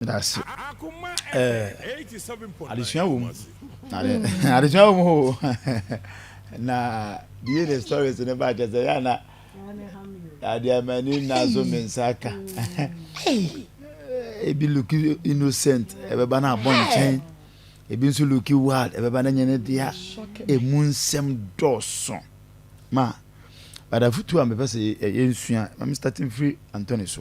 Dase eh adesua wɔ mu adesua wɔ mu ho na bie ne stories ne ba kyɛ sɛ yɛ ana ade amani na so me nsa aka ebi look innocent ɛbɛba na abɔ nkyɛn ebi nso look wild ɛbɛba na nyɛ ne dea emu nsɛm dɔɔso ma badafutu a mepɛ sɛ yɛnsua ma me starting free Anthony so.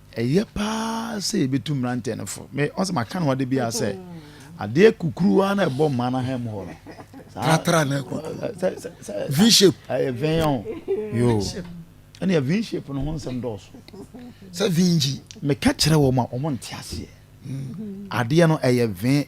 Ɛyɛ paa sɛ yɛbɛtu mmeranteɛ no fo. Me, ɔsɛ maka no hɔ de biara sɛ, adeɛ kukuruwa na ɛbɔ mmaa no ahan mu hɔ no. Tratra na ɛkɔ. V-shape. Ɛyɛ vɛn o. Yo. Ɛnna V-shape no ho nsɛm dɔɔso. Sɛ vinji. Meka kyerɛ wɔn a wɔn nte aseɛ. Adeɛ no ɛyɛ vɛn.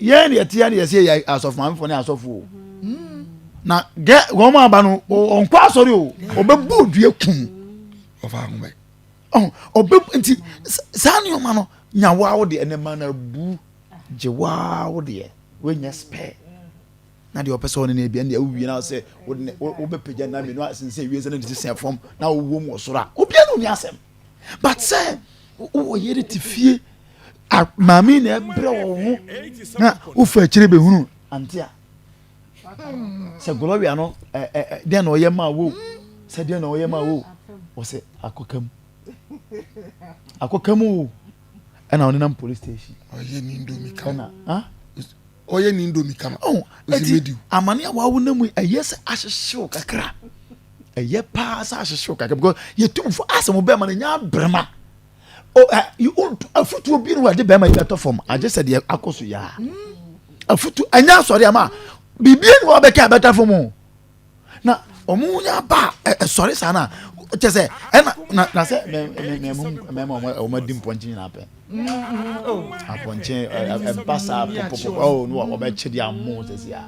yɛn deɛ tia ne yɛsɛ yɛ asɔfo maame fo ne asɔfo o na gɛ wɔn aba no ɔnkɔ asɔre o ɔbɛbu odua kum ɔfa ahoma yi ɔbɛ nti saa nneɛma no nya waa wo deɛ ɛnɛ ma na bu gye waa wo deɛ wɔnyɛ spare. Na deɛ ɔpɛ sɛ ɔne no adi ɛnneɛ wowie na sɛ wobɛpagya nna mmienu asen sɛ wiase no de sesɛn fam na wowɔ mu wɔ soro a obiara ne ɔni asɛm but sɛ wowɔ yere te fie maame na ɛbrɛ wɔ wo ho na wofa akyire bɛhunu ante a sɛ gloria no deɛ na ɔyɛ maa wo sɛ deɛ na ɔyɛ maa wo ɔsɛ akɔka mu akɔka mu o ɛna ɔnenam police station ɔyɛ ne ndomi kan ɛna ɔyɛ ne ndomi ka no ɔho ɔsi medi o. amane a wawo na mu ɛyɛ sɛ ahyehyew kakra ɛyɛ paa sɛ ahyehyew kakra because yɛtumfo asɛ mo bɛrima no nya abrɛma afutuo bi no wɔde bɛrima yi bɛtɔ fam agye sɛ deɛ akɔ so yɛ a afutu ɛnyɛ asɔre ama biribi ni wɔbɛka ɛbɛtɔ fam o na wɔn nya aba a ɛsɔre saa na kyɛ sɛ ɛna na na sɛ mɛma wɔn adi mpɔnkye nyinaa pɛ apɔnkye ɛba saa popopo ɔwɔ no wɔbɛkye de amu sɛ si a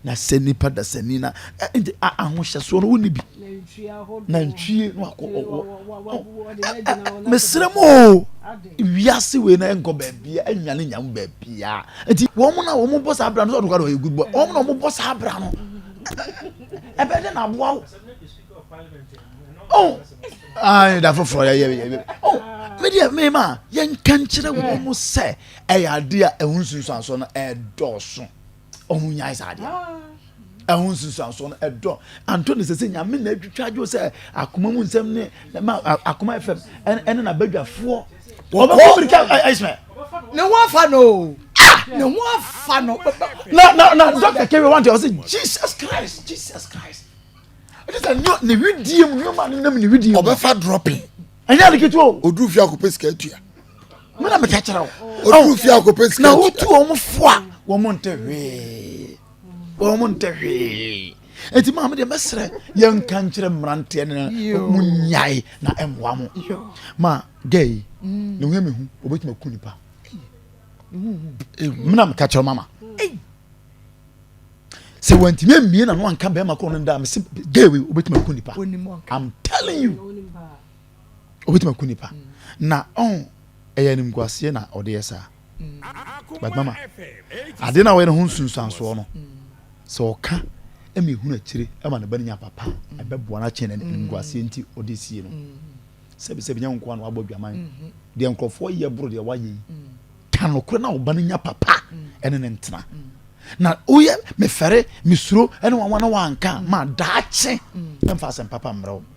na sɛ nipa da sɛ ni na ɛnti ahohyɛsoɔ no wonni bi na ntwie no akɔ ɔwɔ mesrɛ mu o. Wiase wei na ɛnkɔ baabia ɛnwa ne nyam baabia nti wɔn na wɔn bɔ saa abira no sɛ ɔdokwa de ɔyɛ good boy wɔn na wɔn bɔ saa abira no ɛbɛ de na aboa wo oh ayi da foforɔ yɛ yɛ yɛ oh mi deɛ mi ma yɛn nkankyerɛ wɔn sɛ ɛyɛ adeɛ a ɛho nsunsuanso no ɛdɔɔso. ɔho nyae saa adeɛ ɛho nsunsuansoɔ no ɛdɔ anto ne sɛ sɛ nyame na atwitwa adwo sɛ akoma mu nsɛm ne ma akoma fam ɛne n'abadwafoɔ wɔbɛkɔ mirika ismael ne ho afa no ne ho afa no na na na dɔkta kɛwɛ wante ɔsɛ jesus christ jesus christ ɛne sɛ ne hwedie mu nneɛma no nam ne hwedie mu ɔbɛfa dropping ɛnyɛ adeketewa o ɔduru fie akɔpɛ sika atua me na meka kyerɛ wo ɔduru fie akɔpɛ sika na wotu wɔn fo a wɔn ntɛ hwee wɔn ntɛ hwee eti maa mi deɛ mɛsrɛ yɛn nka nkyerɛ mmeranteɛ no mu nyae na ɛmoa mo ma gay yi mm. ne ho mi ho obetumi aku nipa mmena meka kyerɛ mama sɛ wantumi amie na no anka bɛrima kɔ no da mese gay wei obetumi aku nipa i'm telling you obetumi aku nipa na ɔho ɛyɛ animguaseɛ na ɔde yɛ saa but mama adeɛ na ɔyɛ no ho nsunsuansoɔ no sɛ ɔka ɛma ehunu akyire ɛma ne ba no nya papa ɛbɛboa no akyɛn na animguaseɛ nti ɔde sie no sɛbisɛbi nyɛ nkoa na wabɔ adwaman deɛ nkurɔfoɔ yɛ boro deɛ wayɛ yi ka nokorɛ na ɔba no nya papa ɛne ne ntena na woyɛ mefɛre mesuro ɛne wanwa na wanka ma daakye ɛmfa asɛm papa mmerɛ wo